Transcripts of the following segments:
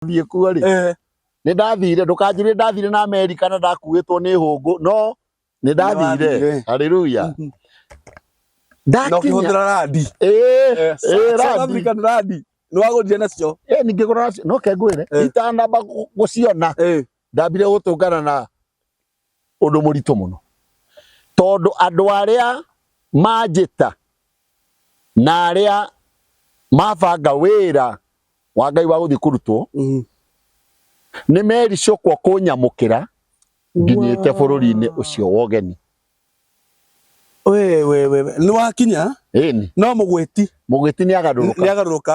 ndathiĩ kuo rĩ Eh, nĩ ndathire ndũkanjĩrĩre ndathire na amerika na ndakuĩtwo nĩ hũngũ no nĩ ndathire Nĩwathire. haleluya na ndakinya ũkĩhũthĩra randi Eh, eh, South randi. African randi nĩwagũrire nacio Eh, ningĩ kũrora no kengwĩre Eh. itanamba gũ- gũciona Eh, ndambire gũtũngana na Ũndũ mũritũ mũno, tondũ andũ arĩa manjĩta na arĩa mabanga wĩra wa Ngai wa gũthiĩ kũrutwo mm. nĩ mericũkwo kũnyamũkĩra nginyĩte bũrũri-inĩ ũcio wa ũgeni nĩ wakinya no mũgwĩti mũgwĩti nĩ agarũrũka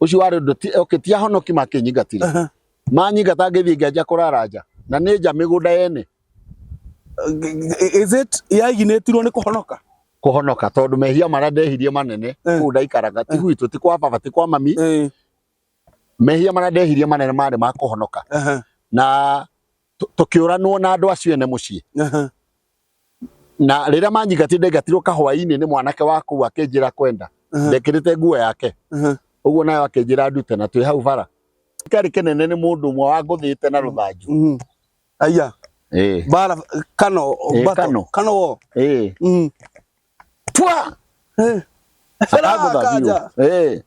ucio wari undu okay ti ahonoki makinyingatire Aha. manyingata ngithii ngianjia kurara nja na ni nja migunda yene is it yaginetirwo nĩ kũhonoka kuhonoka tondu mehia maria ndehirie manene Eh. kuu ndaikaraga ti gwitũ ti kwa baba ti kwa mami Eh, mehia maria ndehirie manene marĩ ma kuhonoka aha. na tũ- tũkĩũranwo na andũ acio ene mũciĩ Aha. na rĩrĩa manyingatire ndaingatirwo kahwainĩ nĩ mwanake wa kũu akĩnjĩra kwenda Aha. ndekĩrĩte nguo yake Aha. ũguo nayo akĩnjĩra ndute na twĩ hau bara karĩ kĩnene nĩ mũndũ ũmwe wangũthĩte na rũthanju Mhm. Aya. Ĩĩ, Bara kano. Ĩĩ, battle. kano. Kano wo. ĩĩ. Mhm. pwa eh. akagutha biũ eh.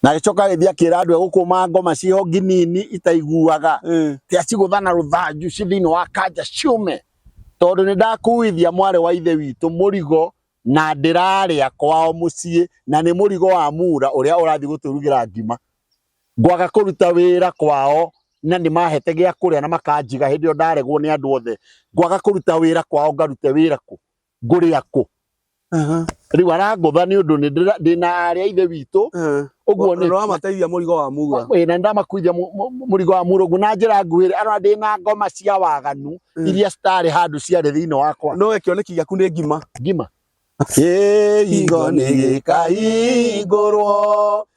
na gĩcoka agĩthiĩ akĩra andũ egũkũma ngoma ciho nginini itaiguaga eh. ti acigũtha na rũthanju ci thĩinĩ wa kanja ciume tondũ nĩ ndakuithia mwarĩ wa ithe witũ mũrigo na ndĩrarĩa kwao mũciĩ na nĩ mũrigo wa mura ũrĩa ũrathiĩ gũtũrugĩra ngima ngwaga kũruta wĩra kwao na nĩ mahete gĩa kũrĩa na makanjiga hĩndĩ ĩyo ndaregwo nĩ andũ othe ngwaga kũruta wĩra kwao ngarute wĩra kũ ngũrĩa kũ Aha. rĩu arangũtha nĩ ũndũ nĩ ndĩra- ndĩ na arĩa ithe witũ Eh. ũguo nĩ Nĩwamateithia mũrigo wa muga. Ĩĩ, na nĩndamakuithia mu- mu- mu- mũrigo wa mũrũgu na njĩra nguhĩ arona ndĩ na ngoma cia waganu Mm. iria citarĩ handũ ciarĩ thĩinĩ wakwa No kĩoneki gĩaku nĩ ngima. ngima kĩhingo nĩ gĩkahingũrwo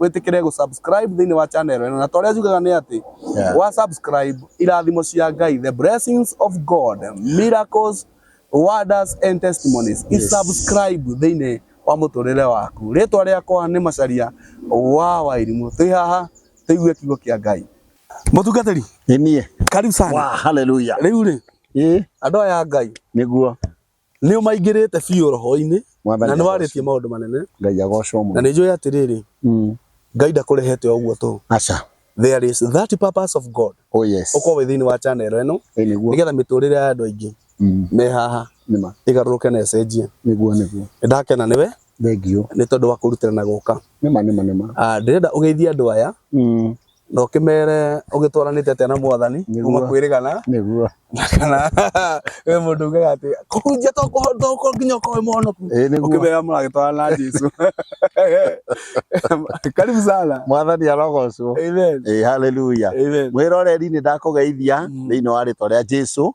wĩtĩkĩre gũ subscribe thĩinĩ wa channel ĩno na ta ũrĩa njugaga nĩ atĩ Yeah. wa subscribe irathimo cia Ngai the blessings of God miracles wonders and testimonies i Yes. subscribe thĩinĩ wa mũtũrĩre waku rĩtwa rĩakwa nĩ Macharia wa Wairimũ twĩ haha tũigue kiugo kĩa Ngai mũtungatĩri Ĩniĩ. karibu sana Wa, hallelujah. rĩu rĩ Ĩ, andũ aya a Ngai nĩguo. Nĩ ũmaingĩrĩte biũ roho-inĩ Mwathani na nĩ agoocwo. warĩtie maũndũ manene, Ngai agoocwo na mũno. nĩ njũĩ atĩrĩrĩ, Mm. Ngai ndakũrehete o ũguo tũ. Aca. There is that purpose of God Oh yes. ũkorwo wĩ thĩinĩ wa channel ĩno Ĩ nĩguo. nĩgetha mĩtũrĩre ya andũ aingĩ Mm. me haha Nĩma. ĩgarũrũke na ĩcenjie. Nĩguo nĩguo. Nĩ ndakena nĩwe Thengiũ. nĩ tondũ wa kũrutĩra na gũka. Nĩma nĩma nĩma. Ah, Ndĩrenda ũgeithie andũ aya Mm. na ũkĩmere ũgĩtwaranĩte atĩa na mwathani Nĩguo. kuma kwĩrĩgana nĩguo na kana we mũndũ ugaga atĩ kũhunjia to kũho- to kũ- nginya ũkoe mũhonoku Ĩĩ, nĩguo ũkĩmera mũragĩtwarana na jesu karibu sana mwathani arogocwo amen Ĩĩ, haleluya amen mwĩroreri nĩ ndakũgeithia Mm. thĩinĩ wa rĩtwa rĩa jesu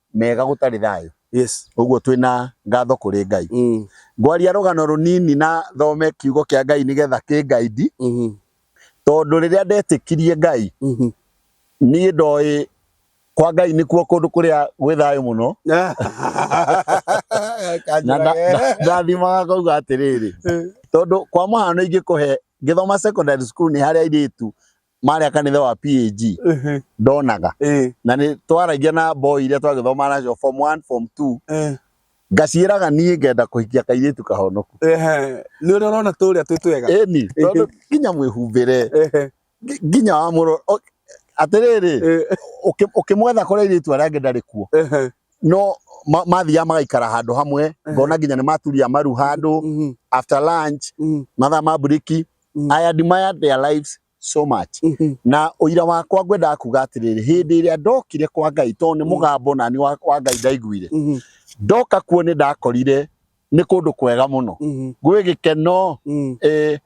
mega gũtarĩ thayũ Yes. ũguo twĩ na ngatho kũrĩ ngai Mm. ngwaria rũgano rũnini na thome kiugo kĩa ngai nĩgetha kĩngaindi Mhm. tondũ rĩrĩa ndetĩkirie ngai Mhm. niĩ ndoĩ kwa ngai nĩkuo kũndũ kũrĩa gwĩ thayũ mũno na Kanjũra nda- we. nda- ndathimaga ngauga atĩrĩrĩ tondũ kwa mũhano ingĩkũhe ngĩthoma secondary school nĩ harĩa airĩtu marĩa kanitha wa PAG Ehe. ndonaga Eh. na nĩ twaragia na boy iria twagĩthoma nacio form 1 form 2 Eh. ngaciĩraga niĩ ngenda kũhikia kairĩtu kahonoku Ehe. Nĩ ũrĩa ũrona tũrĩa twĩ twega. ĩni tondũ nginya mwĩhumbĩre Ehe. ngi- nginya wa mũro o- atĩrĩrĩ Eh. ũkĩ- ũkĩmwetha kũrĩa airĩtu arĩa angĩ ndarĩ kuo Ehe. no ma- mathiaga magaikara handũ hamwe ngona nginya nĩ maturia maru handũ Mhm. after lunch Mhm. mathaa ma mburiki Mm. I admire their lives so much Mhm. na ũira wakwa ngwendaga kuga atĩrĩrĩ hĩndĩ ĩrĩa ndokire kwa ngai tondũ nĩ Mm. mũgambo nani wa wa ngai ndaiguire Mhm. ndoka kuo nĩ ndakorire nĩ kũndũ kwega mũno Mhm. gwĩ gĩkeno Mhm. eh,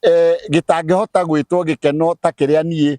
eh, gĩtangĩhota gwĩtwo gĩkeno ta kĩrĩa niĩ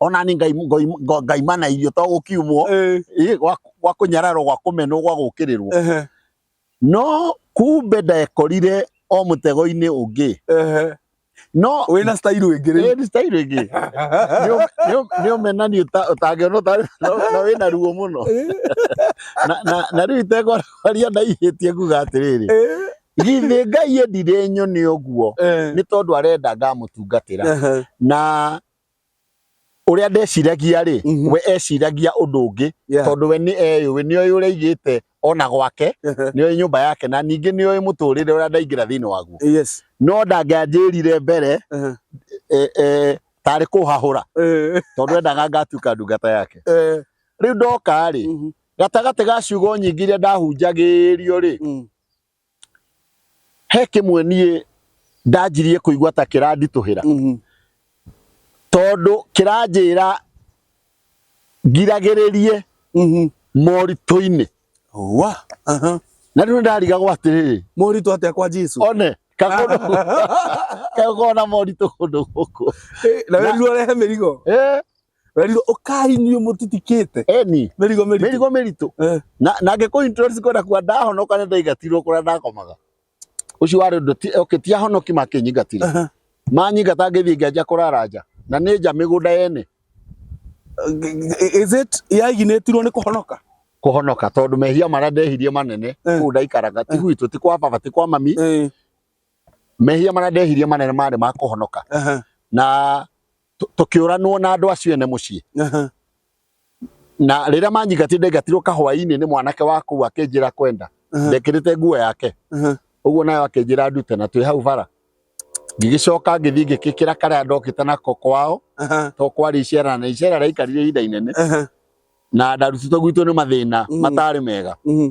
ona nĩ ngai ngai ngo- ngai mana irio to gũkiumwo Eh, ĩ, gwa gwa kũnyararwo gwa kũmenwo gwa gũkĩrĩrwo ehe, no kumbe ndekorire o mũtego-inĩ ũngĩ ehe. no wĩna style ĩngĩ rĩu Ĩĩ, style ĩngĩ nĩ ũmenani ũtangĩona ũtarĩ na na wĩna ruo mũno Na- na- na rĩu itegwaria ndaihĩtie nguga atĩrĩrĩ Eh, githĩ ngai endire nyone ũguo eh, nĩ tondũ arenda ngamũtungatĩra ehe, na ũrĩa ndeciragia rĩ Mhm. we eciragia ũndũ ũngĩ Yeah. tondũ we nĩ eyũĩ nĩ oĩ ũrĩa aigĩte ona gwake nĩ oĩ nyũmba yake na ningĩ nĩ oĩ mũtũrĩre ũrĩa ndaingĩra thĩinĩ waguo yes no ndangĩanjĩrire mbere Uh-huh. e, e, tarĩ kũhahũra Eh, tondũ endaga ngatuĩka ndungata yake eh, rĩu ndoka rĩ mhm, gatagatĩ ga ciugo nyingĩ iria ndahunjagĩrio rĩ mm, he kĩmwe niĩ ndanjirie kũigua ta kĩranditũhĩra Mhm. tondũ kĩranjĩra ngiragĩrĩrie Mhm. moritũ-inĩ Wa. Aha. na rĩu ndarigagwo atĩrĩrĩ Moritũ atĩa kwa Jesu? one kakondo kagona moritũ kũndũ gũkũ Eh, Na werirwo ũrehe mĩrigo. Eh, Werirwo ũkai inyuĩ mũtitikĩte. Eni, Mĩrigo mĩritũ. mĩrigo mĩritũ. Eh. Na na ngĩkũ introduce kwenda kuga ndahonoka nĩ ndaigatirwo kũrĩa ndakomaga. Ũcio warĩ ũndũ ti okay, ti ahonoki makĩnyingatire. Aha. Manyingata ngĩthiĩ ngĩanjia kũrara nja. Na nĩ nja mĩgũnda yene Is it yaiginĩtirwo nĩ kũhonoka? kũhonoka tondũ mehia marĩa ndehirie manene Eh. kũu ndaikaraga ti gwitũ ti kwa baba ti kwa mami Eh. mehia marĩa ndehirie manene marĩ ma kũhonoka Aha. na tũ- tũkĩũranwo na andũ acio ene mũciĩ Aha. na rĩrĩa manyingatire ndaingatirwo kahwainĩ nĩ mwanake wa kũu akĩnjĩra kwenda Aha. ndekĩrĩte nguo yake Aha. ũguo nayo akĩnjĩra ndute na twĩ hau bara ngĩgĩcoka ngĩthiĩ ngĩkĩkĩra karĩa ndokĩte nako kwao Aha. to kwarĩ icera na icera rĩaikarire ihinda inene Aha. na ndarutĩtwo gwitũ nĩ mathĩna Mhm. matarĩ mega Mhm.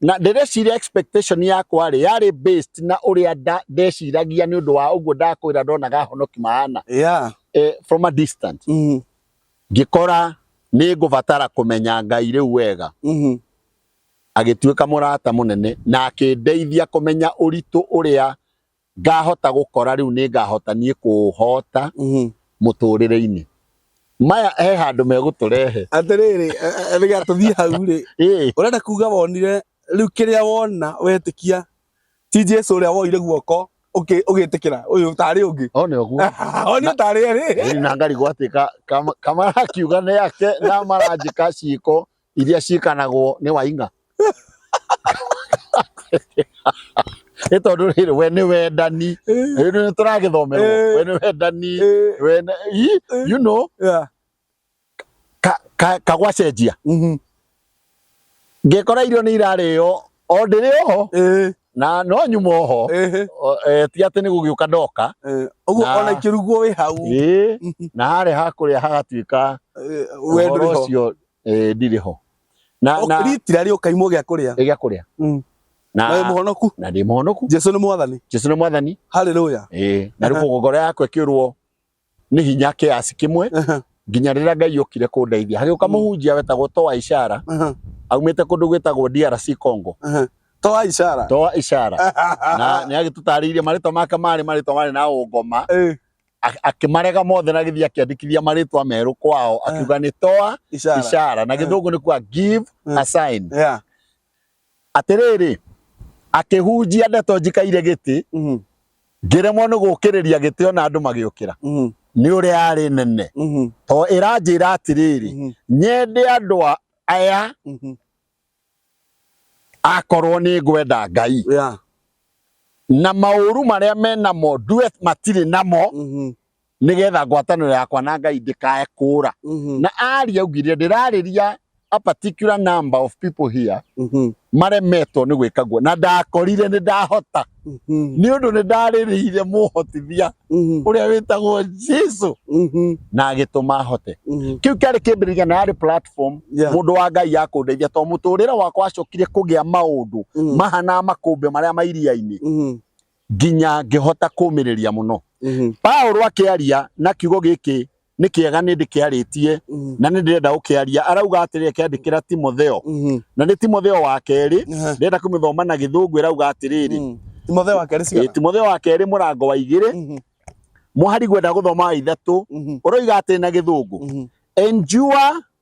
na ndĩreciria expectation yakwa rĩ yarĩ based na ũrĩa nda- ndeciragia nĩ ũndũ wa ũguo ndakwĩra ndonaga honoki maana yeah eh, from a distance mhm ngĩkora nĩ ngũbatara kũmenya ngai rĩu wega mhm agĩtuĩka mũrata mũnene na akĩndeithia kũmenya ũritũ ũrĩa ngahota gũkora rĩu nĩ ngahota niĩ kũũhota Mhm. mũtũrĩre-inĩ maya he handũ megũtũrehe atĩrĩrĩ rĩga tũthiĩ hau rĩ Ĩĩ, ũrenda kuga wonire rĩu kĩrĩa wona wetĩkia ti jesu ũrĩa woire guoko ũkĩ- ũgĩtĩkĩra ũyũ tarĩ ũngĩ o nĩ ũguo onio tarĩ erĩ Ĩni na ngari gwatuĩka kama- kamara kiuga nĩ yake na maranjĩka ciĩko iria ciĩkanagwo nĩ wainga nĩ tondũ rĩrĩ we nĩ wendani rĩu nĩ tũragĩthomerwo we nĩ wendani we nĩ- Ii, you know ka- ka- kagwacenjia ngĩkora irio nĩ irarĩo o ndĩrĩ oho na no nyuma oho O- eh, ti atĩ nĩ gũgĩũka ndoka ũguo Na- ona ikĩrugwo wĩ hau Ĩĩ, na harĩa hakũrĩa hagatuĩka ũhoro ũcio eh ndirĩ ho na na ritira rĩo kaimwo gĩa kũrĩa gĩa kũrĩa mm. na na muhonoku na ndi muhonoku Jesu ni mwathani Jesu ni mwathani haleluya eh na rĩu ngoro yakwa ĩkĩũrwo nĩ hinya kĩasi kĩmwe nginya rĩrĩa Ngai okire kũndeithia hagĩũka mm. mũhunjia wetagwo Toa Ishara aumĩte kũndũ gwĩtagwo DRC Congo toa ishara toa ishara na nä agä tå tarä irie marä twa make marä marä twa marä na å ngoma a- akĩmarega mothe na gĩthiĩ akĩandĩkithia marĩtwa merũ kwao Eh. akiuga nĩ toa Ishara. ishara na Eh. gĩthũngũ nĩ kuga give Eh. a sign Yeah. atĩrĩrĩ akĩhunjia ndeto njikaire gĩtĩ Mhm. ngĩremwo nĩ gũkĩrĩria gĩtĩ ona andũ magĩũkĩra Mhm. nĩ ũrĩa yarĩ nene Mhm. to ĩranjĩra atĩrĩrĩ Mhm. nyende andũ a- aya Mhm. akorwo nĩ ngwenda ngai yeah. na maũru marĩa menamo ndue matirĩ namo mm -hmm. nĩgetha ngwatanĩro yakwa na ngai ndĩkae kũra mm -hmm. na aria augire ndĩrarĩria a particular number of people here mm -hmm. maremetwo nĩ gwĩka guo na ndakorire nĩ ndahota Mhm. nĩ ũndũ nĩ ndarĩrĩire mũhotithia Mhm. ũrĩa wĩtagwo jesu Mhm. na agĩtũma hote Mhm. kĩu kĩarĩ kĩmbĩrĩria na yarĩ platform Yeah. mũndũ wa ngai ya kũndeithia tondũ mũtũrĩre wakwa wacokire kũgĩa maũndũ Mhm. mahana makũmbĩ marĩa ma iria-inĩ Mhm. nginya ngĩhota kũmĩrĩria mũno Mhm. paulo akĩaria na kiugo gĩkĩ nĩ kĩega nĩ ndĩkĩarĩtie Mm. na nĩ ndĩrenda gũkĩaria arauga atĩrĩ akĩandĩkĩra timotheo Mhm. na nĩ timotheo wa kerĩ Ehe. ndĩrenda kũmĩthoma na gĩthũngũ ĩrauga atĩrĩrĩ Mm. timotheo wa kerĩ Eh, cigana timotheo wa kerĩ mũrango wa igĩrĩ Mhm. mũhari gwenda gũthoma wa ithatũ Mhm. ũroiga atĩrĩ na gĩthũngũ Mhm. endure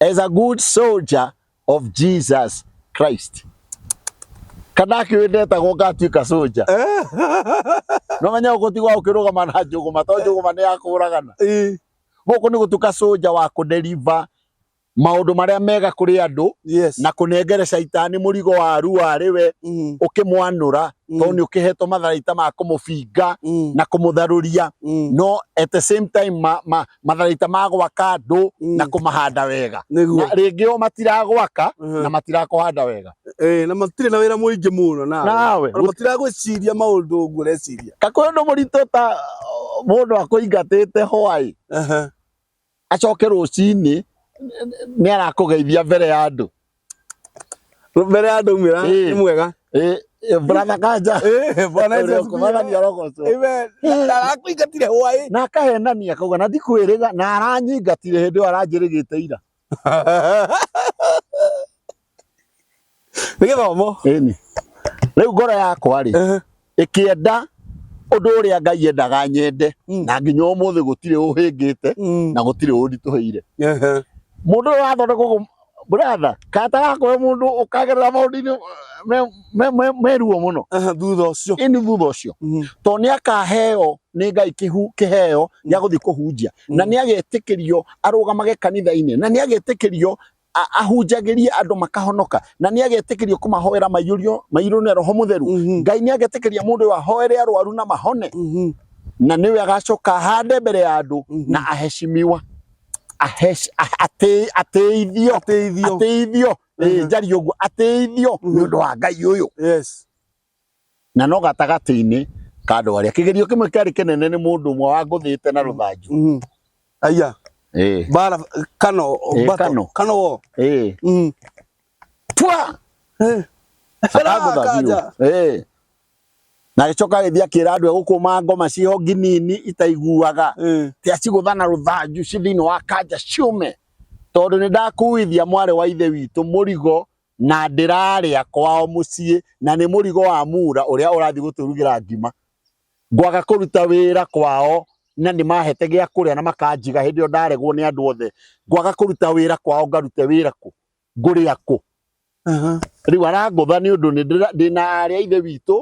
as a good soldier of Jesus Christ kana akiwendetagwo ngatuĩka soja no menya ũgũtigwa ũkĩrũgama na njũgũma to njũgũma nĩ yakũragana Eh, gũkũ nĩ gũtuĩka soja wa kũdeliver maũndũ marĩa mega kũrĩ andũ yes. na kũnengere caitani mũrigo wa arua arĩ we Mm, ũkĩmwanũra mm, tondũ nĩ ũkĩhetwo matharaita ma kũmũbinga mm, na kũmũtharũria mm. no at the same time ma, ma, matharaita ma gwaka andũ na mm. kũmahanda wega na rĩngĩ o matiragwaka uh-huh. na matirakũhanda wega eh, na matirĩ na wĩra mũingĩ mũno nawe matiragwĩciria maũndũ ũguo ũreciria kakwĩ ũndũ mũritũ ta mũndũ akũingatĩte hwaĩ uh-huh. acoke rũcinĩ nĩ arakũgeithia mbere ya andũ mbere ya andå mwä ra nä mwega brother kanja bwana Yesu kumagania arogocwo amen ndarakuingatire hwaĩ na akahenania akauga na ndikwĩrĩga na aranyingatire hĩndĩ ĩyo aranjĩrĩgĩte ira nä gä thomo ĩni rĩu ngoro yakwa rĩ ĩkĩenda ũndũ ũrĩa ngai endaga nyende Mm. na nginya ũmũthĩ gũtirĩ ũhĩngĩte Mm. na gũtirĩ ũnditũhĩire Ehe. mũndũ ũyũ wathondekwo gũ- bratha kata gakoe mũndũ ũkagerera maũndũ-inĩ eh, me- me- me- meruo mũno Ehe, thutha ũcio ini thutha ũcio Mhm. to nĩ akaheo nĩ ngai kĩhu- kĩheo gĩa gũthiĩ kũhunjia na nĩ agetĩkĩrio arũgamage kanitha-inĩ na nĩ agetĩkĩrio ahunjagĩrie andũ makahonoka na nĩ agetĩkĩrio kũmahoera maiyũrio mairũ na roho mũtheru Mhm. ngai nĩ agetĩkĩria mũndũ ũyũ ahoere arwaru na mahone Mhm. na nĩwe agacoka ahande mbere ya andũ Mhm. na aheshimiwa Ahesh- ah- atĩ- atĩithio Ateithio. atĩithio Ĩĩ, Mhm. njari ũguo atĩithio Mhm. nĩ ũndũ wa ngai ũyũ Yes. na no gatagatĩ-inĩ ka andũ arĩa kĩgerio kĩmwe kĩarĩ kĩnene nĩ mũndũ ũmwe wangũthĩte na rũthanju Mhm. Aya. Ĩĩ, Bara kano. Eh, battle. kano. Kano wo. ĩĩ. Mhm. Pwa! Eh. Akagũtha biũ. Akaja. Ĩĩ. na agĩcoka agĩthiĩ akĩra andũ egũkũma ngoma ciĩho nginini itaiguaga Eh. ti acigũtha na rũthanju ci thĩinĩ wa kanja ciũme tondũ nĩ ndakuithia mwarĩ wa ithe witũ mũrigo Na ndĩrarĩa kwao mũciĩ, na nĩ mũrigo wa mura ũrĩa ũrathiĩ gũtũrugĩra ngima. Ngwaga kũruta wĩra kwao, na nĩ maahete gĩa kũrĩa na makanjiga hĩndĩ ĩyo ndaregwo nĩ andũ othe. Ngwaga kũruta wĩra kwao, ngarute wĩra kũ? Ngũrĩa kũ? Rĩu arangũtha nĩ ũndũ ndĩ na aarĩ a Ithe witũ,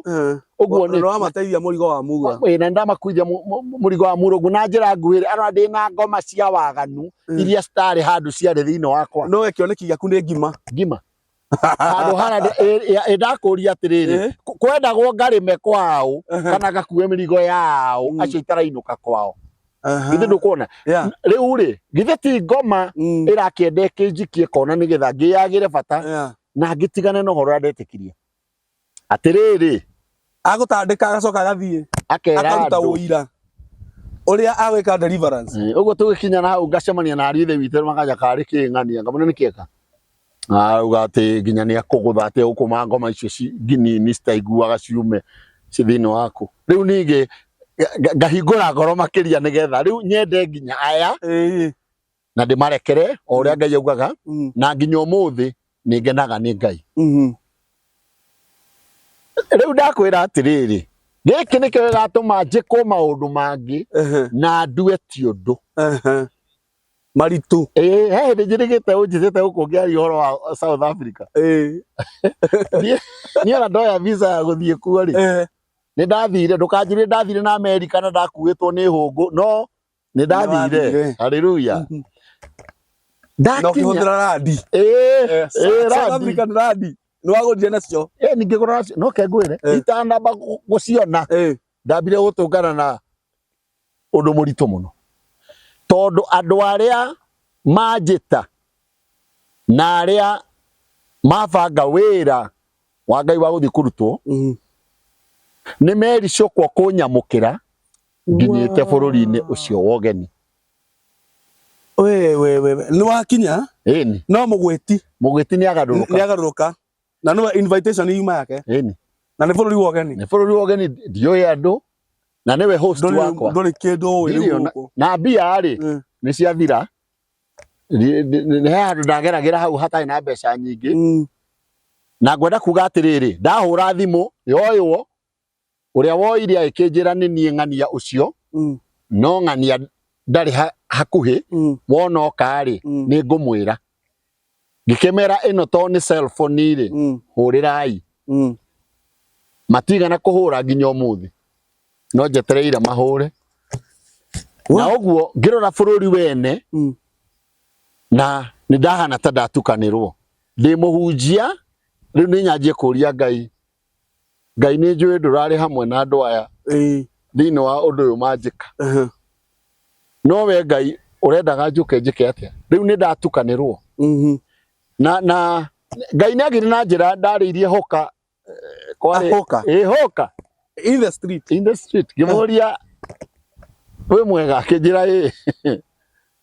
ũguo nĩ rwamateithia mũrigo wa mura Ĩĩ, na ndamakuithia mu- mu- mu- mũrigo wa mũrũgu na njĩra nguhĩ rĩ arona ndĩ na ngoma cia waganu Mm. iria citarĩ handũ ciarĩ thĩinĩ wakwa no we kĩoneki gĩaku nĩ ngima ngima handå hana ä ndakå ria atä rä rä Eh. kwendagwo ngarä me kwao Ehe. kana gakue mä rigo yao Mm. acio itarainå ka kwao Aha. githä ndå kuona Yeah. rä u rä githä ti ngoma Mm. ä rakä enda kä njikie kona nä getha ngä yagä re bata Yeah. na ngä tigane na å horo å rä a ndetä kirie Atĩrĩrĩ, agũtandĩka agacoka agathiĩ akera akaruta andũ ũira ũrĩa agwĩka deliverance Eh, ũguo tũgĩkinya na hau ngacemania na ariũ ithe witũ makaja karĩ kĩng'ania ngamwĩra nĩkĩeka auga atĩ nginya nĩ akũgũtha atĩ ũkũma ngoma icio ci- nginini citaiguaga ciume ci thĩinĩ waku rĩu ningĩ nga- nga- ngahingũra ngoro makĩria nĩgetha rĩu nyende nginya aya Ĩĩ. na ndĩmarekere o ũrĩa ngai augaga Mhm. na nginya ũmũthĩ nĩ ngenaga nĩ ngai Mhm. rĩu ndakwĩra atĩrĩrĩ gĩkĩ nĩkĩo gĩgatũma njĩkwo maũndũ mangĩ Ehe. na ndue ti ũndũ Ehe. maritũ Ĩĩ, he hĩndĩ njĩrĩgĩte ũnjĩtĩte gũkũ ngĩaria ũhoro wa south africa Ĩĩ. niĩ ona ndoya visa ya gũthiĩ kuo rĩ Ehe. nĩ ndathire ndũkanjĩrie ndathire na amerika na ndakuĩtwo nĩ hũngũ no nĩ ndathire Nĩwathire. haleluya Mhm. na ndakinya ũkĩhũthĩra randi Eh, Eh, eh, South randi. African randi nĩ wagũrire nacio Eh, ningĩ gũra nacio no kengwĩre Eh. itanamba gũ- gũciona Eh, ndambire gũtũngana na ũndũ mũritũ mũno tondũ andũ arĩa manjĩta na arĩa mabanga wĩra wa ngai wa gũthiĩ kũrutwo mhm. nĩ mericũkwo kũnyamũkĩra nginyĩte bũrũri-inĩ ũcio wa ũgeni we we we nĩ wakinya ĩni no mũgwĩti mũgwĩti nĩ agarũrũka nĩagarũrũka na nĩwe invitation yuma yake ĩni na nĩ bũrũri wa ũgeni nĩ bũrũri wa ũgeni ndiũĩ andũ na nĩwe host Ndũrĩ- wakwa ndũrĩ kĩndũ ũĩ Ndirĩ rĩu ona- gũkũ na mbia rĩ Mm. nĩ ciathira Ndi- ndi- ndi- he handũ ndageragĩra hau hatarĩ na mbeca nyingĩ Mm. na ngwenda kuga atĩrĩrĩ ndahũra thimũ yoywo Ũrĩa woire agĩkĩnjĩra nĩ niĩ ng'ania ũcio, Mm. no ng'ania ndarĩ ha, hakuhĩ, Mm. wona oka-rĩ, Mm. nĩ ngũmwĩra. Ngĩkĩmera ĩno to nĩ cellphone-rĩ, Mm. hũrĩrai. Mm. Matigana kũhũra nginya ũmũthĩ. No njetereire mahũre. Na Wa- ũguo ngĩrora bũrũri wene, Mm. na nĩ ndahana ta ndatukanĩrwo. Ndĩ mũhunjia, rĩu nĩ nyanjie kũria Ngai, ngai nĩ njũĩ ndũrarĩ hamwe na andũ aya Ĩĩ. thĩinĩ wa ũndũ ũyũ manjĩka Aha. no we ngai ũrendaga njũke njĩke atĩa rĩu nĩ ndatukanĩrwo Mhm. na na ngai nĩ agire na njĩra ndarĩirie hoka eh, kwarĩ- Ahoka. ĩ hoka In the street. in the street ngĩmũria wĩ mwega akĩnjĩra ĩ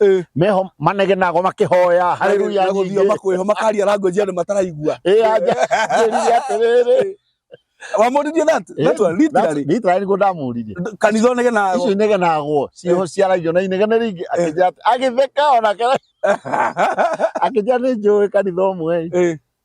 Eh. meho manegenago makihoya haleluya Na gũthiĩ makwĩho makaria language andũ mataraigua eh aje njĩrire atĩrĩrĩ wamũririe that that one literally literally nĩguo ndamũririe kanitha onege na icio inegenagwo ciĩho ciaragio na inegene rĩingĩ akĩnjĩra atĩ- agĩtheka ona kera akĩnjĩra nĩ njũĩ kanitha ũmwe eh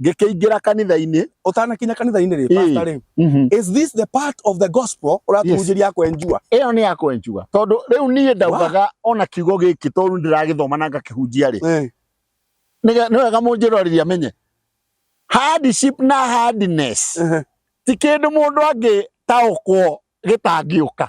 ngĩkĩingĩra kanitha-inĩ ũtanakinya kanitha-inĩ rĩ Ĩĩ. pastor rĩ Mhm. is this the part of the gospel ũratũhunjĩria ya kwenjua ĩyo nĩ yakwa njuga tondũ rĩu niĩ ndaugaga ona kiugo gĩkĩ tondũ rĩu ndĩragĩthoma na ngakĩhunjia rĩ Eh, nĩge- nĩ wega mũnjĩrorĩria menye hardship na hardness eh, ti kĩndũ mũndũ angĩtaũkwo gĩtangĩũka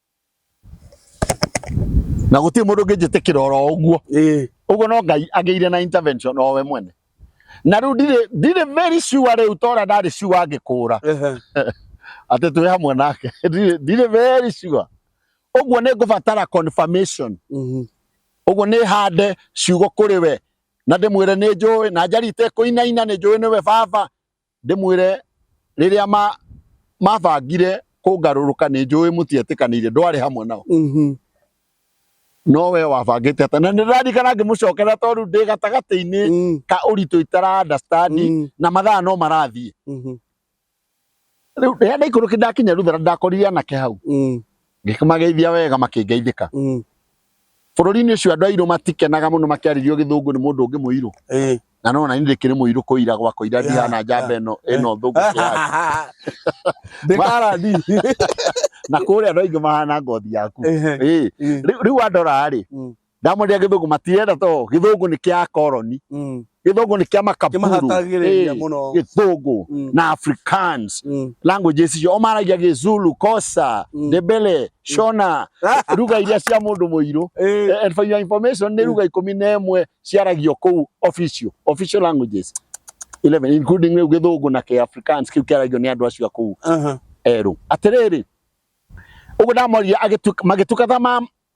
na gũtirĩ mũndũ ũngĩnjĩtĩkĩra oro ũguo ĩĩ ũguo no ngai agĩire na intervention o we mwene na rĩu ndirĩ ndirĩ very sure rĩu tora ndarĩ sure angĩkũra ehe atĩ twĩ hamwe nake ndirĩ ndirĩ very sure ũguo nĩ ngũbatara confirmation mhm ũguo nĩ hande ciugo kũrĩ we na ndĩmwĩre nĩ njũĩ na njari itekũinaina nĩ njũĩ nĩwe baba Ndĩmwĩre, rĩrĩa ma mabangire kũngarũrũka nĩ njũĩ mũtietĩkanĩire ndwarĩ hamwe nao Mhm. no we wabangĩte atĩa na nĩ ndaririkana ngĩmũcokera tondũ ndĩ gatagatĩ-inĩ Mm, ka ũritũ itara understand mm, na mathaa no marathiĩ mhm, rĩu rĩrĩa ndaikũrũkire ndakinya Ruther ndakorire anake hau mm, Ngĩkĩmageithia wega makĩngeithĩka. Mm. Bũrũri-inĩ ũcio andũ airũ matikenaga mũno makĩarĩrio gĩthũngũ nĩ mũndũ ũngĩ mũirũ. Eh. Na no na ndĩkĩrĩ mũirũ kũira gwa kũira ndihana njamba ĩno ĩno eh. thũngũ kĩyaga. Ndĩkara ndi. Na kũrĩa andũ aingĩ mahana ngothi yaku. Eh. Rĩu andora rĩ, mm. ndamwendera githungu matirenda to githungu ni kia koroni Mm. githungu ni kia makaburu Kĩmahatagĩrĩria Eh, mũno. githungu Mm. na africans Mm. languages icio omaragia gizulu kosa Mm. ndebele shona ruga iria cia mundu muiru Eh, Eh, and for your information nä ruga ikå mi na ĩmwe ciaragio kũu official official languages 11 including rĩu gĩthũngũ na kä africans kĩu kĩaragio nĩ andå acio a kũu aha. erũ atĩrĩrĩ ũguo ndamoria magĩtukatha ma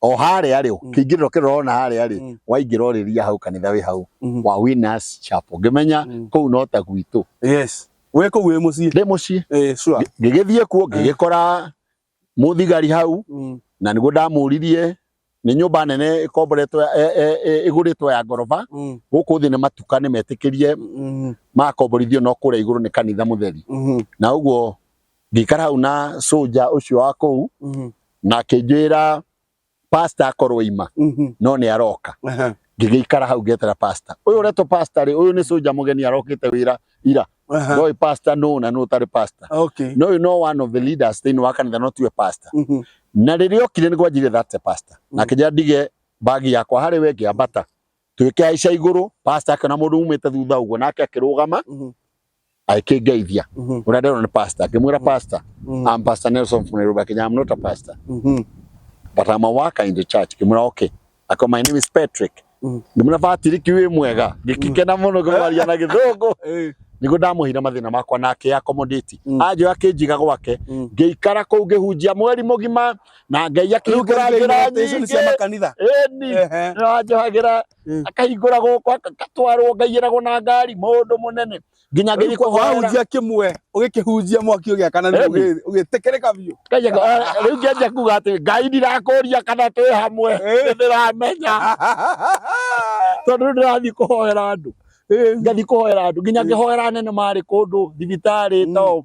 o harĩa rĩ Mm. kĩingĩrĩro kĩrĩa ũrona harĩa rĩ Mm. waingĩra ũrĩria hau kanitha wĩ hau Mhm. wa Winners Chapel ngĩmenya Mm. kũu no ta gwitũ yes wä kå u wä må ciä ndĩ mũciĩ Eh, sure. Ngĩ- ngĩgĩthiĩ kuo ngĩgĩkora mũthigari hau Mm, na nĩguo ndamũririe nĩ nyũmba nene ĩkomboretwo ya- e- e- e- ĩgũrĩtwo ya ngoroba mm, gũkũ thĩ nĩ matuka nĩ metĩkĩrie mm, makomborithio no kũrĩa igũrũ nĩ kanitha mũtheri mm, na ũguo ngĩikara hau na soja ũcio wa kũu Mhm. na akĩnjwĩra pasta akorwo ima Mhm. no nĩ aroka Aha. ngĩgĩikara hau ngetera pasta ũyũ ũretwo pasta rĩ ũyũ nĩ soja mũgeni arokĩte wĩra ira Aha. ndoĩ pasta nũ na nũ ũtarĩ pasta Okay. no ũyũ no one of the leaders thĩinĩ wa kanitha no tiwe pasta Mhm. na rĩrĩa okire nĩ gwanjire that's a pasta Mm. na kĩnja ndige bagi yakwa harĩ we ngĩambata twĩkĩhaica igũrũ pasta akĩona mũndũ umĩte thutha ũguo nake akĩrũgama Mhm. akĩngeithia Mhm. ũrĩa ndĩrona nĩ pastor akĩmwĩra pastor Mhm. I'm pastor Nelson from Nairobi Kenya I'm not a pastor Mhm. but I'm a worker in the church kimura okay ako my name is Patrick Mm. ngimura Patrick wĩ mwega ngikikena mũno ngĩmwaria na gĩthũngũ Eh. nĩguo ndamuhire mathĩna makwa na akĩ accommodate Mm. anjĩra akĩnjiga gwake Mm. ngĩikara kũu ngĩhunjia mweri mũgima na ngai Rĩu akĩhingũra kĩrĩa njĩra nyingĩ cia makanitha. ĩni Ehe. nĩwanjohagĩra Mm. akahingũra gũkũ agatwarwo ngaiyĩragwo na ngari mũndũ mũnene nginya Rĩu ngĩthiĩ kwa- kũhoera wahunjia kĩmwe ũgĩkĩhunjia mwaki ũgĩakana nĩ Ĩni. ũgĩ- ũgĩtĩkĩrĩka biũ Kaja ka- ah, rĩu ngĩanjia kuga atĩ ngai ndirakũria kana twĩ hamwe Eh. ndĩramenya tondũ rĩu ndĩrathiĩ kũhoera andũ ngathiĩ kũhoera andũ nginya ngĩhoera nene marĩ kũndũ thibitarĩ Mm. to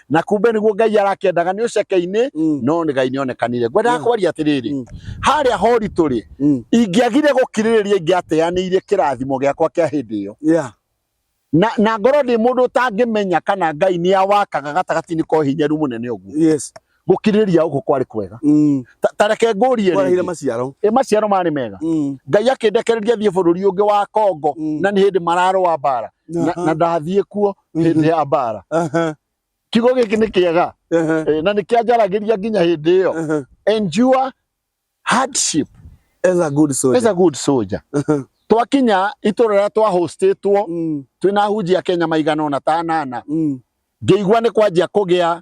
na kumbe niguo ngai arakendaga nĩ ũceke-inĩ Mm. no nĩ gai nĩ onekanire ngwendaga Mm. kwaria atĩrĩrĩ Mm. harĩa horitũ rĩ Mm. ingĩagire gũkirĩrĩria ingĩateanĩire kĩrathimo gĩakwa kĩa hĩndĩ ĩyo Yeah. na, na ngorwo ndĩ mũndũ ũtangĩmenya kana ngai nĩ awakaga gatagatĩ-inĩ kwa ũhinyaru mũnene ũguo Yes. gũkirĩrĩria gũkũ kwarĩ kwega Mm. Ta- ta reke ngũrie Kwarehire rĩngĩ. maciaro. Ĩ, maciaro marĩ mega Mm. ngai akĩndekereria thiĩ bũrũri ũngĩ wa kongo Mm. na nĩ hĩndĩ mararũa mbara na, Aha. na ndathiĩ kuo hĩndĩ ya mbara Aha, kiugo gĩkĩ nĩ kĩega aha, eh, na nĩ kĩanjaragĩria nginya hĩndĩ ĩyo aha. endure hardship As a good as soldier. a good soldier twakinya itũra rĩrĩa twahostĩtwo Mm, twĩna hunjia kenya maigana ona tanana mm, ngĩigua nĩ kwanjia kũgĩa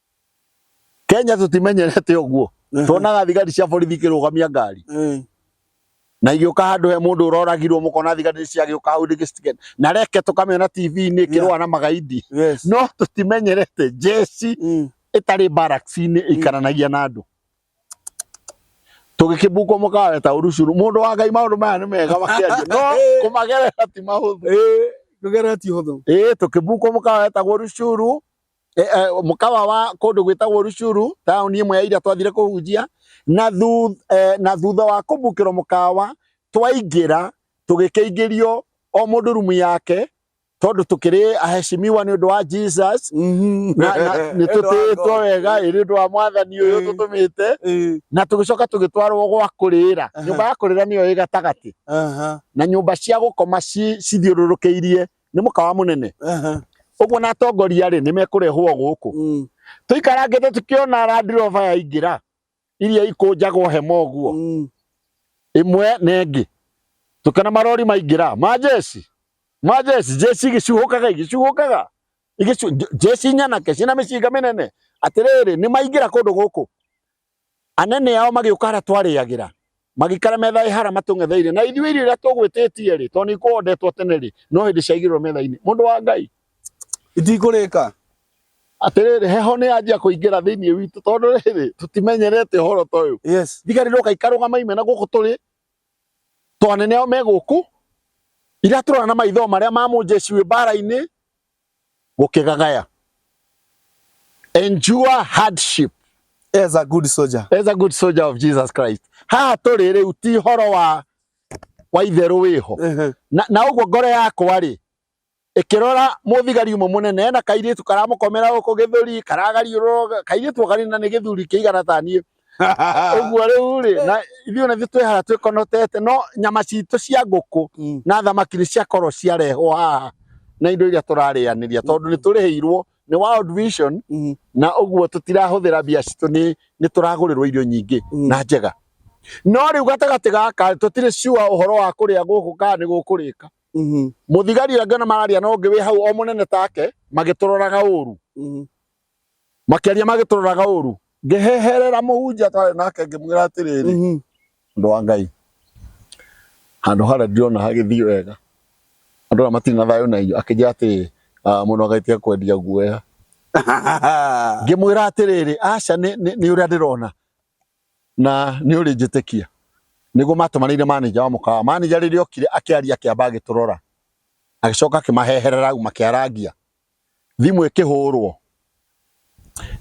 Kenya tũtimenyerete ũguo tuonaga thigari cia borithi ikĩrũgamia ngari eh. na igĩũka handũ he mũndũ ũroragirwo mũkona thigari nĩ ciagĩũka hau rĩngĩ citikenda na reke tũkamĩona TV-inĩ ĩkĩrũa na magaidi no tũtimenyerete jeci mm. ĩtarĩ barracks-inĩ mm. ĩikaranagia na andũ tũgĩkĩmbukwo mũkawe ta ũrucuru mũndũ wa ngai maũndũ maya nĩ mega makĩaria no kũmagerera ti mahũthũ kũgerera ti hũthũ ĩĩ tũkĩmbukwo mũkawe ta ũrucuru e, e, mũkawa wa kũndũ gwĩtagwo Rucuru taũni ĩmwe ya iria twathire kũhunjia na thutha, e, na thutha wa kũmbukĩrwo mũkawa twaingĩra tũgĩkĩingĩrio o mũndũ rumu yake tondu tukiri aheshimiwa ni undu wa Jesus mhm. na ni tutitwo wega iri undu wa mwathani uyu mm. tutumite mm. na tugicoka tugitwarwo gwa kurira nyumba ya kurira niyo igatagati na nyumba cia gukoma cithiururukiirie nĩ mũkawa mũnene Aha. ũguo na atongoria rĩ nĩ mekũrehwo gũkũ Mm. tũikarangĩte tũkĩona Land Rover yaingĩra iria ikũnjagwo hema ũguo Mm. ĩmwe na ĩngĩ tũkĩona marori maingĩra ma jeci ma jeci jeci igĩcuhũkaga igĩcuhũkaga Igĩcu- nj- jeci nyanake ciĩna mĩcinga mĩnene atĩrĩrĩ nĩ maingĩra kũndũ gũkũ Anene ao magĩũka harĩa twarĩagĩra, magĩikara metha ĩ hara matũng'etheire, na ithuĩ irio iria tũgwĩtĩtie-rĩ, tondũ nĩikũondetwo tene-rĩ, no hĩndĩ ciaigĩrĩrwo metha-inĩ. Mũndũ wa Ngai. Itikũrĩka. Atĩrĩrĩ, heho nĩyanjia kũingĩra thĩinĩ witũ, tondũ rĩrĩ, tũtimenyerete ũhoro ta ũyũ. Yes. Thigari ndoka ikarũgama imena gũkũ tũrĩ, tondũ anene ao me gũkũ, iratũrora na maitho o marĩa ma mũnjeci wĩ mbara-inĩ, gũkĩgagaya endure hardship as a good soldier as a good soldier of Jesus Christ haha tũrĩ rĩu ti horo wa wa itherũ wĩho uh-huh. na, na ũguo ngoro yakwa rĩ ikirora muthigari umwe munene ena kairitu karamukomera guku githuri karagariurwo kairitu kari na ni githuri kiigana ta nie ũguo rĩu rĩ na ithuĩ ona ithuĩ twehara twĩkonotete no nyama citũ cia ngũkũ Mm. na thamaki nĩ ciakorwo ciarehwo haha na indo iria tũrarĩanĩria tondũ nĩ tũrĩhĩirwo nĩ World Vision Mhm. na ũguo tũtirahũthĩra mbia citũ nĩ nĩ tũragũrĩrwo irio nyingĩ Mm. na njega no rĩu gatagatĩ gaka tũtirĩ ciua ũhoro wa kũrĩa gũkũ kana nĩ gũkũrĩka Mhm. mũthigari ũrĩa ngĩona mararia na ũngĩ wĩ hau o mũnene take magĩtũroraga ũru Mhm. Makĩaria magĩtũroraga ũũru. Ngĩheherera mũhunjia twarĩ nake ngĩmwĩra atĩrĩrĩ, Mhm. Andũ a Ngai, handũ harĩa ndirona hagĩthiĩ wega, andũ arĩa matirĩ na thayũ na inyuĩ. Akĩnjĩra atĩrĩrĩ, "Ah, mũndũ wa Ngai tiga kwendia guoya. Ngĩmwĩra atĩrĩrĩ, aca nĩ nĩ- nĩ ũrĩa ndĩrona na nĩ ũrĩ njĩtĩkia. Nĩguo matũmanĩire manĩnja wa mũkawa. Manĩnja rĩrĩa okire akĩaria akĩamba agĩtũrora. Agĩcoka akĩmaheherera au makĩarangia. thimũ ĩkĩhũrwo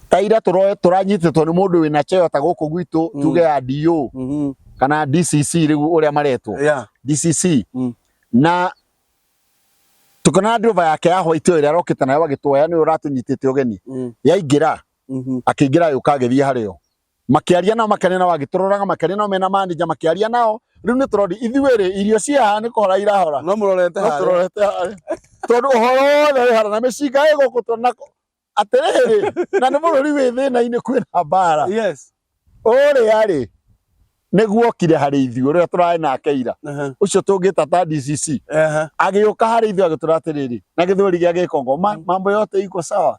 ta ira tũro- tũranyitĩtwo nĩ mũndũ wĩna cheo ta gũkũ gwitũ Mm. tuge ya DO Mhm. kana DCC rĩu ũrĩa maretwo Yeah. DCC Mm. na tukona driver yake ya white ĩyo ĩrĩa arokĩte nayo agĩtwoya nĩyo ũratũnyitĩte ũgeni Mm. yaingĩra Mhm. akĩingĩra yũka agĩthiĩ harĩo makĩaria nao makĩaria nao agĩtũroraga makĩaria nao mena manager makĩaria nao rĩu nĩ tũrori ithuĩ rĩ irio ciaha nĩ kũhora irahora no mũrorete no harĩa tũrorete harĩa tondũ ũhoro wothe wĩ harĩa na mĩcinga ĩ gũkũ tondũ na atĩrĩrĩ na nĩ bũrũri wĩ thĩna-inĩ kwĩna mbara yes ũrĩa rĩ nĩguo okire harĩ ithuĩ ũrĩa tũrarĩ nake ira Aha, ũcio tũngĩta ta DCC aha. agĩũka harĩ ithuĩ agĩtũra atĩrĩrĩ na gĩthweri gĩa gĩkongo "Ma- mambo yote iko sawa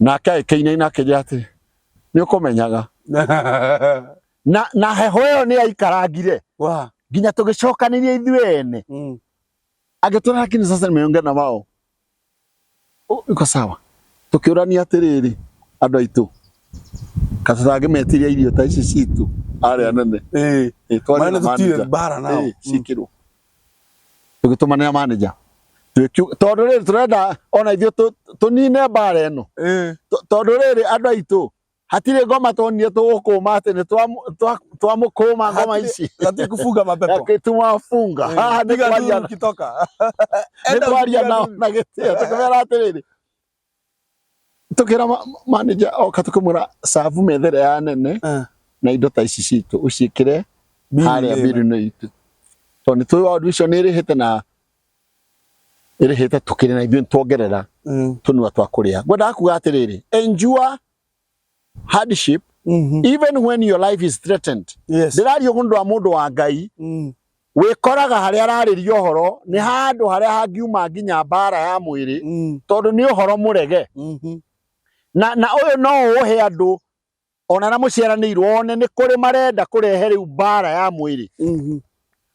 nake agĩkĩinaina akĩnjĩra atĩ nĩ ũkũmenyaga na, na heho ĩyo nĩ yaikarangire Wa. nginya tũgĩcokanĩria ithuĩ ene Mm. agĩtwara lakini sasa nimeongea na wao U- iko sawa tukiurania atiriri andu aitu katurage metiria irio ta ici citu ari anene Eh. Eh, twari Maana na tutire manager. mbara nao. Eh, cikirwo tũgĩtũmanĩra manager Tũkiu- tondũ rĩrĩ tũrenda ona ithuĩ tũ- tũnine mbara ĩno Eh. Tũ- tondũ rĩrĩ andũ aitũ hatirĩ ngoma tuonire tũgũkũma atĩ nĩ twamu- twa- twamũkũma ngoma Hatirĩ- ici Hataki kufunga mapepo. gĩtumafunga Eh, haha nĩ piga kwaria nduru ukitoka. nĩ Enda kwaria ukipiga nao nduru. na gĩtĩo tũkĩmera atĩrĩrĩ tukira ma- manager oka tukimwira savu methere ya nene Eh. na indo ta ici citũ ũciĩkĩre harĩa mbirũ-inĩ itũ tondũ nĩ tũĩ waũndũ icio nĩ ĩrĩhĩte na ĩrĩhĩte tũkĩrĩ na ithuĩ nĩ tuongerera Mm. tũnua twa kũrĩa ngwendaga kuga atĩrĩrĩ enjua hardship Mhm. even when your life is threatened Yes. ndĩrario kũndũ wa mũndũ wa ngai Mm. wĩkoraga harĩa ararĩria ũhoro nĩ handũ harĩa hangiuma nginya mbara ya mwĩrĩ Mm. tondũ nĩ ũhoro mũrege Mhm. na na ũyũ no ũhe andũ ona na mũciaranĩirwo one nĩ kũrĩ marenda kũrehe rĩu mbara ya mwĩrĩ Mhm.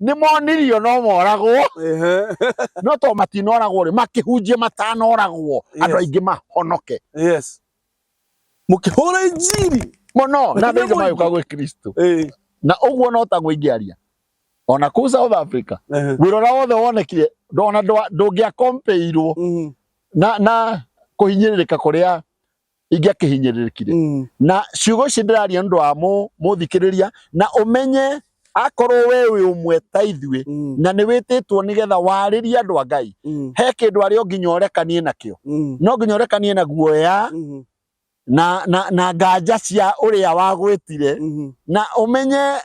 nĩ monirio no moragwo Ehe. no to matinoragwo rĩ makĩhunjie matanoragwo Yes. andũ aingĩ mahonoke yes mũkĩhũra injiri mũno na Makĩria thĩinĩ magĩũka mũingĩ. gwĩ kristo Eh, na ũguo no taguo ingĩaria ona kũu south africa ehe. wĩra ũrĩa wothe wonekire ndona ndwa- ndũngĩakompeirwo Mhm. na na kũhinyĩrĩrĩka kũrĩa ingĩakĩhinyĩrĩrĩkire Mm. na ciugo ici ndĩraria nĩ ũndũ wa mũ- mũthikĩrĩria na ũmenye akorwo we wĩ ũmwe ta ithuĩ Mm. na nĩ wĩtĩtwo nĩgetha warĩrie andũ a ngai Mm. he kĩndũ arĩ o nginya ũrekanie nakĩo Mm. no nginya ũrekanie na guoya Mhm. na, na, na nganja cia ũrĩa wagwĩtire Mhm. na ũmenye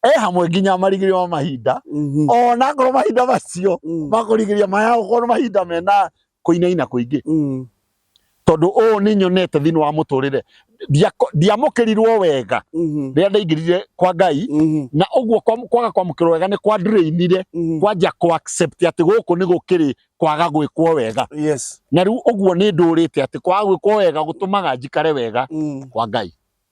e hamwe nginya marigĩrĩrio ma mahinda Mhm. ona akorwo mahinda macio Mm. makũrigĩrĩria maya gũkorwo mahinda mena kũinaina kũingĩ Mm. tondũ ũũ nĩ nyonete thĩinĩ wa mũtũrĩre Ndiako- ndiamũkĩrirwo wega Mhm. rĩrĩa ndaingĩrire kwa ngai Mhm. na ũguo kwa- kwaga kwamũkĩrwo wega nĩ kwandrĩinire Mhm. kwanja kũ accept atĩ gũkũ nĩ gũkĩrĩ kwaga gwĩkwo wega Yes. na rĩu ũguo nĩ ndũrĩte atĩ kwaga gwĩkwo wega gũtũmaga njikare wega Mm. kwa ngai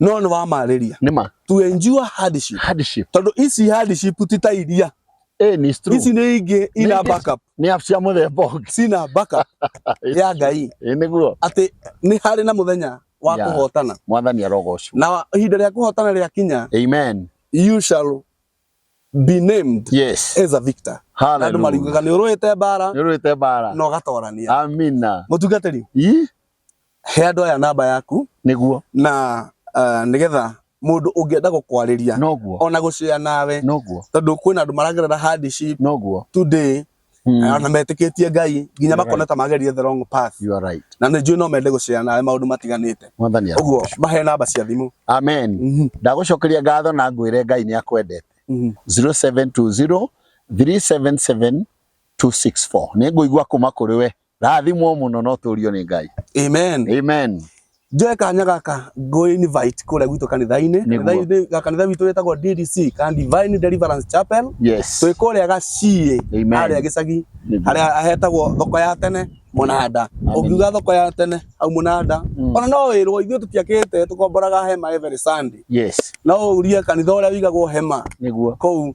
no nĩ wamarĩria nĩma to endure hardship hardship tondũ ici hardship ti ta iria eh ni true ici nĩ ingĩ ina Nĩ- backup nĩ app cia mũthemba ũngĩ cina backup ya ngai ĩ nĩguo atĩ nĩ harĩ na mũthenya wa Yeah. kũhotana mwathani arogocwo na ihinda rĩa kũhotana rĩa kinya amen you shall be named yes as a victor na andũ haleluya mariugaga nĩ ũrũĩte mbara nĩũrwĩte mbara na ũgatorania amina mũtungatĩri ii He andũ aya namba yaku nĩguo na uh, eh, nigetha mundu ungienda gukwariria noguo ona gucea nawe noguo tondu kwina andu maragerera hardship noguo today hmm. eh, ona metikitie ngai nginya makona ta magerie the wrong path you are right na ni njui no mende gucea nawe maundu matiganite mwathani uguo mahe namba cia thimu amen mhm. ndagucokeria ngatho na ngwire ngai ni akwendete 0720 mhm. 377 264 nä ngå igua kå ma kå rä we Rathimwo mũno no tũũrio nĩ Ngai. Amen. Amen. Njoe kanya gaka ngũ invite kũrĩa gwitũ kanitha-inĩ. Nĩguo. Kanitha-inĩ ga- kanitha witũ wĩtagwo DDC, kana Divine Deliverance Chapel. Yes. Twĩ kũrĩa Gaciĩ Amen. harĩa gĩcagi Nĩguo. harĩa hetagwo thoko ya tene mũnanda. Amen. Ũngiuga thoko ya tene hau mũnanda Mm. ona no wĩrwo ithuĩ tũtiakĩte tũkomboraga hema every Sunday. Yes. No ũrie kanitha ũrĩa wĩigagwo hema Nĩguo. kũu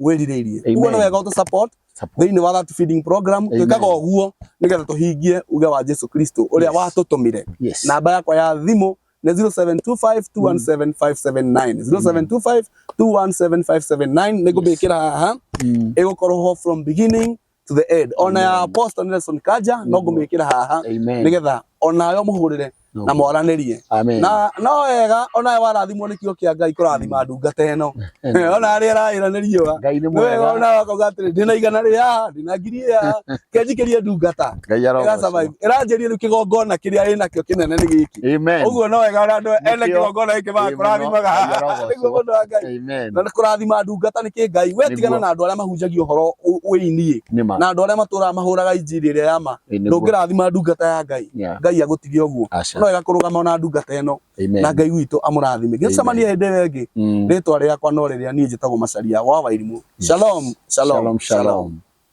wĩrirĩirie Amen. uguo nĩ wega ũtũ support Support. thĩinĩ wa that feeding program Amen. twĩkaga ũguo nĩgetha tũhingie uge wa Jesu Kristo ũrĩa Yes. watũtũmire Yes. namba yakwa ya thimũ nĩ 0725217579 0725217579 nĩngũmĩkĩra haha Mm. ĩgũkorwo ho from beginning to the end ona ya Amen. apostle Nelson Kaja no Nĩguo. ngũmĩkĩra haha Amen. nĩgetha onayo mũhũrĩre No. na mwaranĩrie Amen. na no wega onawe warathimwo nĩ kiugo kĩa ngai kũrathima ndungata ĩno ona arĩa ĩraĩra nĩ riũa Ngai nĩ nĩ wega mwega. onawe akauga atĩrĩ ndĩna igana rĩa ndĩna ngiri ya kenjikĩrie ndungata Ngai ĩra arogocwo. survive ĩranjĩria rĩu kĩgongona kĩrĩa ĩnakĩo kĩnene nĩ gĩkĩ Amen. ũguo no wega ona andũ ene Nĩkĩo. kĩgongona gĩkĩ Amen. magakũrathimaga Ngai arogocwo. nĩguo mũndũ wa ngai Amen. na nĩ kũrathima ndungata nĩ kĩ ngai we Nĩguo. tigana na andũ arĩa mahunjagia ũhoro ũ- wĩiniĩ Nĩ ma. na andũ arĩa matũraga mahũraga injiri ĩrĩa ya ma Ĩ, nĩguo. ndũngĩrathima ndungata ya ngai Yeah. ngai agũtige ũguo Aca. no wega kũrũgama ona ndungata ĩno Amen. na ngai witũ amũrathime gĩcemanie hĩndĩ ĩyo ĩngĩ Mm. rĩtwa rĩakwa no rĩrĩa niĩ njĩtagwo macaria wa wairimũ shalom shalom, Shalom, shalom.